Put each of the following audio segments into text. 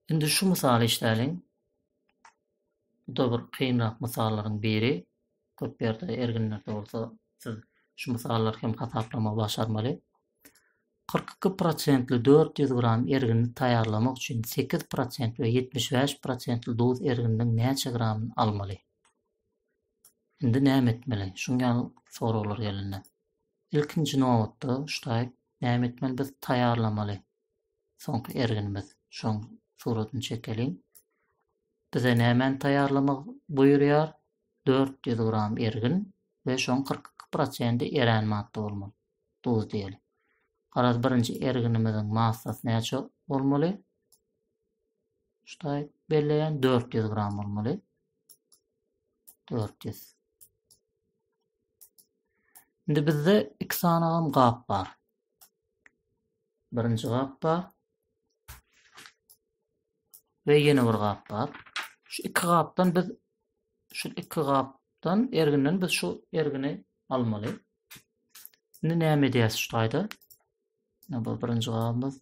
Indi şu mysaly işläliň. Bu da bir kynrak mysallaryň biri. Köp ýerde erginlerde bolsa siz şu mysallar hem hasaplama başarmaly. 42 prosentli 400 gram ergini taýýarlamak üçin 8 prosent we 75 prosentli duz ergininiň näçe gramyny almaly? Indi näme etmeli? Şuň ýaly soraglar gelende. Ilkinji nobatda, ştaýk, näme etmeli? Biz taýýarlamaly. Soňky erginimiz. Şoň suratyny çekeliň. Bize nämäni taýýarlamak buýurýar? 400 gram ergin we şoň 42 prosenti erän madda bolmaly. Duz diýeli. Garaz, birinji erginimiziň massasy näçe bolmaly? Ştaýk belleýän 400 gram bolmaly. dört ýüz. Indi bizde iki sanagam gap bar. Birinji gap bar. Ve ýene bir gap bar. Şu iki gapdan biz şu iki gapdan erginden biz şu ergini almaly. Indi näme edýäs şu taýda? Ne bu birinji gapymyz.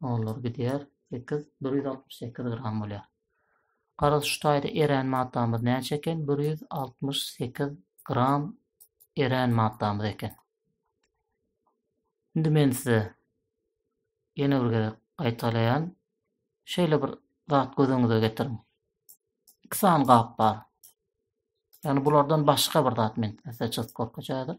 Olar gidýär, 8, 168 gram bolýar. Garaz, şu taýda erän maddamyz näçe eken? 168 gram erän maddamyz eken. Indi men size ýene bir gezek gaýtalaýan. Şeýle bir zat göz öňüňize getiriň. Iki sany gap bar. Ýagny bulardan başga bir zat men size çyzyp görkezýärdim.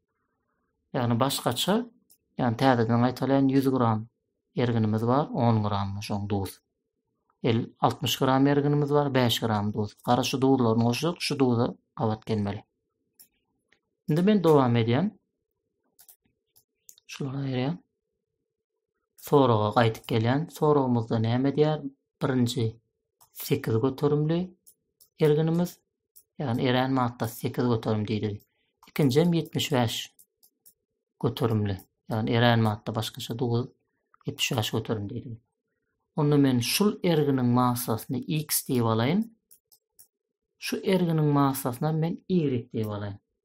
Ýagny başgaça, ýagny täzeden gaýtalaýyn, ýüz gram erginimiz bar, on gram şoň duz. El, altmyş gram erginimiz bar, bäş gram duz. Gara şu duzlaryny goşjak, şu duza gabat gelmeli. Indi men dowam edýän. Şulary aýyrýan. Soraga gaýdyp gelýän soragymyzda näme diýýär? Birinji 8 göterimli erginimiz, ýagny erän madda 8 göterim diýdi. Ikinji hem 75 göterimli, ýagny erän madda başgaça 9 75 göterim diýdi. Onda men şul erginiň massasyny x diýip alaýyn. Şu erginiň massasyna men y diýip alaýyn.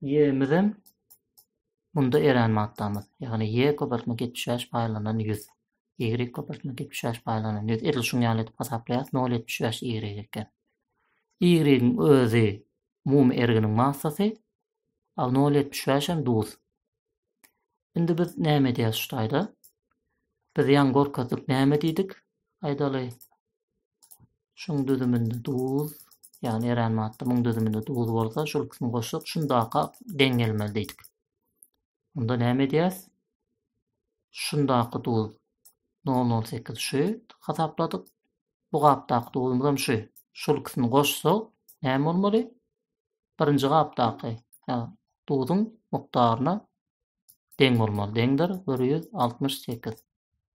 Y-mizem munda erän maddamyz. Ýagny Y köpeltme 75 paýlanan 100. Y köpeltme 75 paýlanan 100. Edil şuň ýaly edip hasaplaýas. 0,75 Y eken. Y-iň özi umumy erginiň massasy. A 0,75 hem duz. Indi biz näme edýäs şu taýda? Biz ýaňy görkezdik näme diýdik? Aýdaly. Şuň düzüminde duz, ýagny erän madda muň düzüminde duz bolsa, şol ikisini goşsak, şundaka deň gelmeli diýdik. Onda näme edýäs? Şundaka duz 0,08 şu hasapladyk. Bu gapdaky duzumyz hem şu. Şol ikisini goşsak, näme bolmaly? Birinji gapdaky duzuň mukdaryna deň bolmaly. Deňdir 168.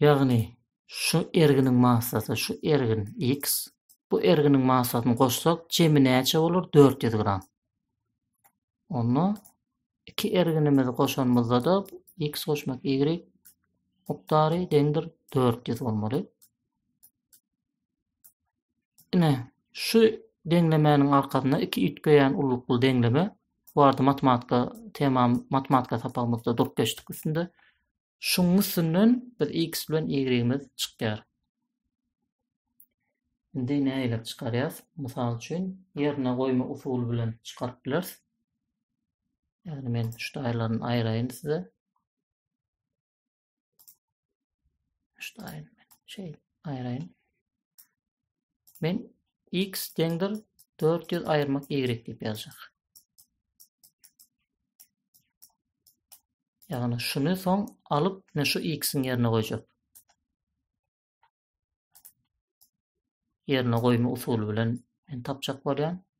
Ýagny, şu erginiň massasy, şu ergin, X, bu erginiň massasyny goşsak, jemi näçe bolar? Dört ýüz gram. Onda iki erginimizi goşanymyzda-da X goşmak Y mukdary deňdir dört ýüz bolmaly. Ine, şu deňlemäniň arkasynda iki üýtgeýän ullukly deňleme, bu arada matematika temam, matematika sapagymyzda durup geçdik üstünde. Şunuň üstünden biz x bilen y-miz çykýar. Indi nägilip çykarýas? Mysal üçin, ýerine goýma usuly bilen çykaryp bileris. Ýagny men şu taýlaryny aýraýyn size. Şu taýyny şeýle aýraýyn. Men x deňdir 400 aýyrmak y diýip ýazjak. Ýagny şuny soň alyp, men şu x-iň ýerine goýjak. Ýerine goýma usuly bilen men tapjak bolýan.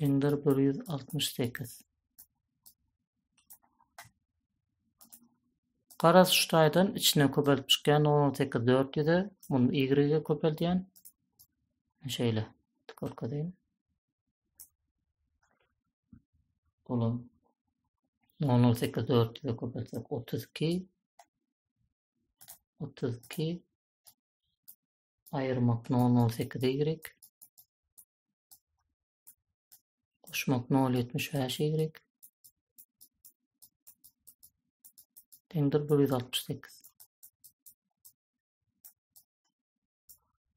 deňdir bir ýüz altmyş sekiz. Garaz şu taýdan içine köpelip çykýan nol on sekiz dört ýüze, muny ýigrige köpeldýän. Şeýle, görkezýän. Olam nol on sekiz dört ýüze köpelsek otuz iki, otuz iki, Aýyrmak nol nol sekiz ýigrik. Goşmak nol ýetmiş bäş ýigrik. Deňdir bir ýüz altmyş sekiz.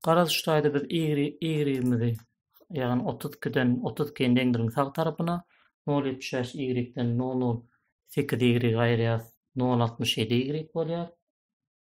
Garaz şu taýda biz ýigrigimizi ýagny otuz ikiden otuz ikini deňdiriň sag tarapyna nol ýetmiş bäş ýigrikden nol nol sekiz ýigrigi aýyrýarys nol altmyş ýedi ýigrik bolýar.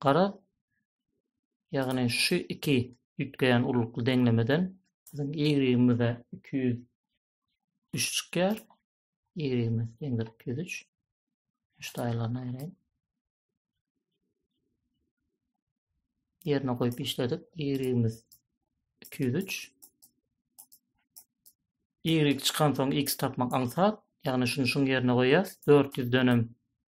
Garaz, ýagny şu iki üýtgeýän urlukly deňlemeden biziň y-imize iki ýüz üç çykýar. Y-imiz deňdir iki ýüz üç. Şu taýlaryny aýraýyn. Ýerine goýup işledik. Y-imiz iki ýüz üç. Y çykan soň x tapmak aňsat. Ýagny şuny şuň ýerine goýýas. Dört ýüzdenem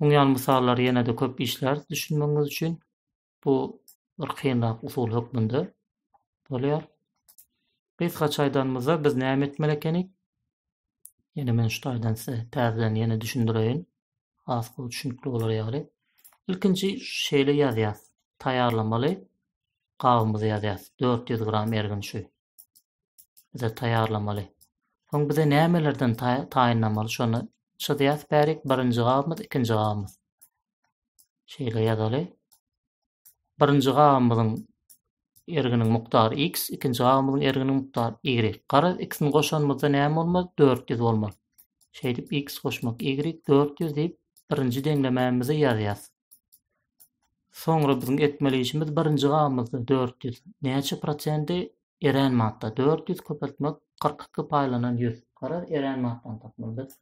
Muň ýaly mysallary ýene-de köp işläris düşünmegiňiz üçin. Bu bir kynrak usul hökmünde bolýar. Gysgaça aýdanymyzda biz näme etmeli ekenik? Ýene men şu taýdan size täzeden ýene düşündireýin. Has gowy düşünikli bolar ýaly. Ilkinji şeýle ýazýas. Taýýarlamaly gabymyzy ýazýas. 400 gram ergin şu. bize taýýarlamaly. Soň bize nämelerden taýynlamaly şony çyzýas bärik birinji gabymyz ikinji gabymyz. Şeýle ýazaly. Birinji gabymyzyň erginiň mukdary x, ikinji gabymyzyň erginiň mukdary y. Garaz x-ni goşanymyzda näme bolmaly? 400 bolmaly. Şeýdip x goşmak y 400 diýip birinji deňlemämizi ýazýas. Soňra biziň etmeli işimiz birinji gabymyzda dört ýüz. Näçe prosendi erän madda? Dört ýüz köpeltmek kyrk iki paýlanan ýüz. Garaz, erän maddany tapmaly biz.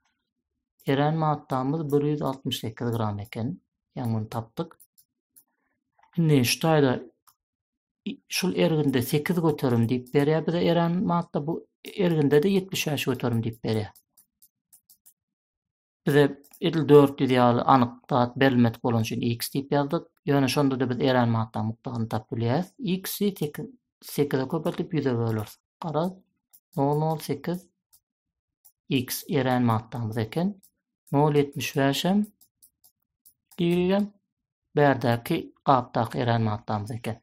Erän maddamyz bir ýüz altmyş sekiz gram eken. Ýaňy muny tapdyk. Indi şu taýda şul erginde 8 göterim diýip berýär bize eren madda bu erginde-de 75 göterim diýip berýär. Bize edil dört ýüz ýaly anyk zat berilmedik bolany üçin x diýip ýazdyk. Ýöne şonda-da biz erän manatlaryň mukdaryny tapyp bilýäris. X-i sekiz, sekize köpeltip ýüze böleris. Gara, nol nol sekiz x erän manatlarymyz eken. Nol ýetmiş bäş hem ýigregem bärdäki gapdaky erän manatlarymyz eken.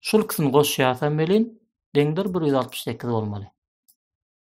Şul ikisini goşýarsam welin, deňdir bir ýüz altmyş sekiz bolmaly.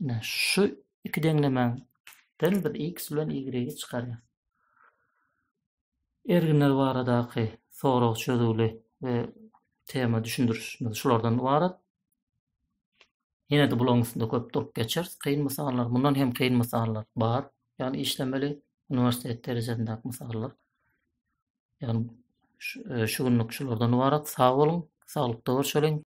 Ine, şu iki deňlemänden biz x bilen y-i çykarýar. Erginler baradaky sorag çözüwli we tema düşündirişimiz şulardan ybarat. Ýene-de bularyň üstünde köp durup geçeris. Kyn mysallar, mundan hem kyn mysallar bar. Ýagny işlemeli uniwersitet derejesindäki mysallar. Ýagny şu e, günlük şulardan ybarat. Sag boluň, saglykda görşeliň.